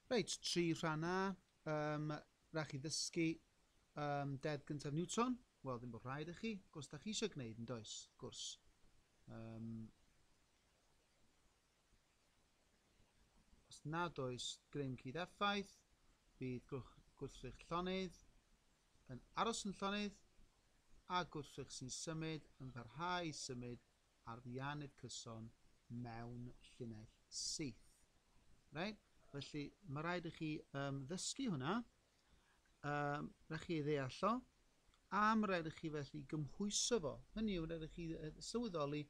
Reit, tri rhan A. Um, rhaid chi ddysgu um, deddf gyntaf Newton. Wel, ddim bod rhaid i chi, gwrs da chi eisiau gwneud yn does, gwrs. Um, os nad oes grym cyd effaith, bydd gwrthrych llonydd yn aros yn llonydd a gwrthrych sy'n symud yn parhau i symud arian y cyson mewn llinell syth. Right? Felly, mae rhaid i chi um, ddysgu hwnna. Um, rhaid chi ei ddeall o. A mae rhaid i chi felly gymhwyso fo. Hynny yw, rhaid i chi sylweddoli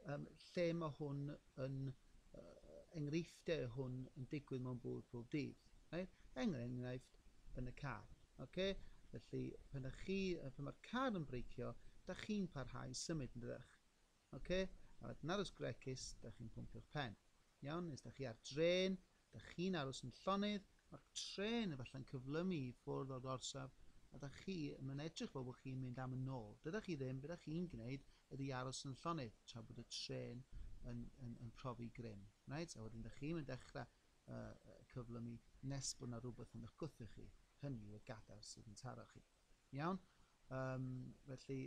um, lle mae hwn yn, uh, enghreifftiau hwn yn digwydd mewn bywyd pob dydd. Right? Er enghraifft, yn y car. Okay? Felly, pan ydych chi, pan mae'r car yn breicio, da chi'n parhau i symud, yn dydych? Okay? A wedyn aros gregus, da chi'n pwmpio'ch pen. Iawn? Neu os da chi ar dren, da chi'n aros yn llonydd, mae'r tren efallai'n cyflymu i ffwrdd o'r gorsaf, a da chi yn mynd edrych fel bod chi'n mynd am yn ôl. Dyda chi ddim, beth da chi'n gwneud ydy aros yn llonydd tra bod y tren yn, yn, yn profi grym. Right? A wedyn da chi'n mynd dechrau yy cyflymu nes bod 'na rywbeth yn 'ych gwthio chi, hynny yw y gadair sydd yn taro chi. Iawn? Um, felly,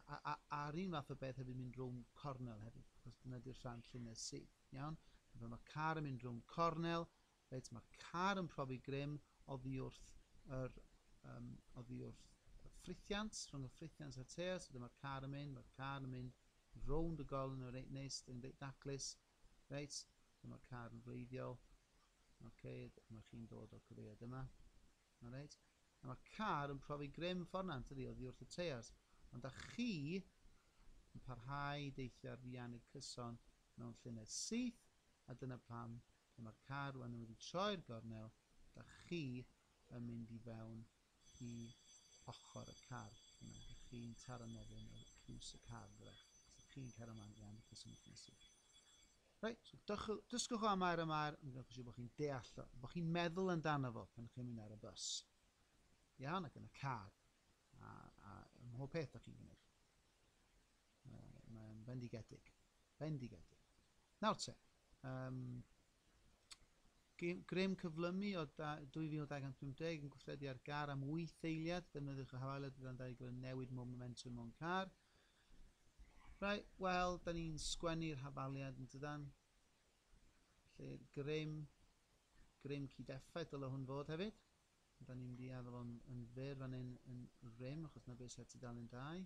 a, a, a'r un fath o beth hefyd mynd rhwng cornel hefyd, achos dyna di'r rhan llynedd si. Iawn? Fe mae car yn mynd rhwng cornel, reit, mae'r car yn profi grym oddi wrth yr, um, oddi wrth y ffrithiant, rhwng y ffrithiant a'r teas, so dyma'r car yn mynd, mae'r car yn mynd rownd y golyn yn reit neis, yn reit daclus, Reit, dyma car yn bleiddiol. Ok, dyma chi'n dod o'r cyfeiriad yma. Alright. A mae car yn profi grym ffornant ydi oddi wrth y teiars. Ond da chi yn parhau i deithio ar fiannu cyson mewn llynedd syth, a dyna pam pan mae'r car rwan yn wedi troi'r gornel, da chi yn mynd i fewn i ochr y car yna, dych chi'n taro nofyn o piws y car, byddech. Os ydych chi'n cario ymlaen, iawn, bydd cyswng chi'n sych. Reit, so dysgwch, dysgwch o amair amair, ond gwnewch yn siŵr bod chi'n deall o, bod chi'n meddwl amdano fo pan ydych chi'n mynd ar y bus. Iawn, ac yn y car, a, a ym mhob peth ydych chi'n gwneud. Mae, mae'n bendigedig. Bendigedig. Nawr te, um, grym cyflymu o 2250 yn gweithredu ar gar am 8 eiliad, defnyddiwch y hawaliad gyda'n dau gyfer newid mob momentum o'n car. Rai, wel, da ni'n sgwennu'r hafaliad yn dydan. Lle grym, grym cyd-effaith dyle hwn fod hefyd. Da ni'n mynd i addo fo'n yn fyr fan hyn yn rym, achos na beth sy'n tudalen 2.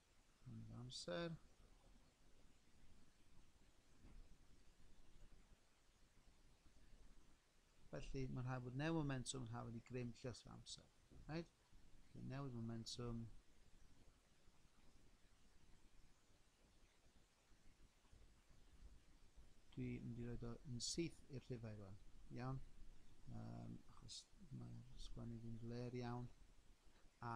Mae'n amser. Felly, mae'n rhaid bod newid momentum yn hafod i grym llyth yr amser. Right? Felly, newid momentum. Dwi'n mynd i roed o yn syth i'r rhifau rwan. Iawn? Um, achos mae'r sgwennu fi'n fler iawn. A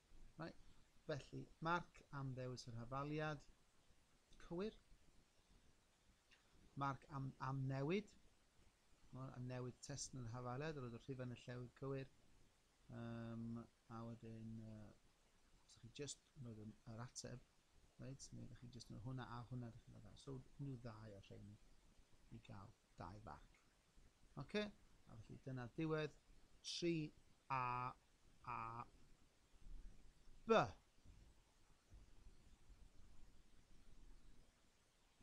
Mae, felly, marc am ddewis yr hafaliad cywir, marc am, am newid, a newid testyn yr hafaliad, roedd y rhifau yn y llewyd cywir, um, a wedyn, uh, os ydych chi just yn rhoi yr ateb, right, neu ydych chi just yn rhoi hwnna a hwnna, ydych chi'n rhoi So, nhw ddau o'r rhain i gael dau farc. Ok, a felly dyna diwedd 3A a B.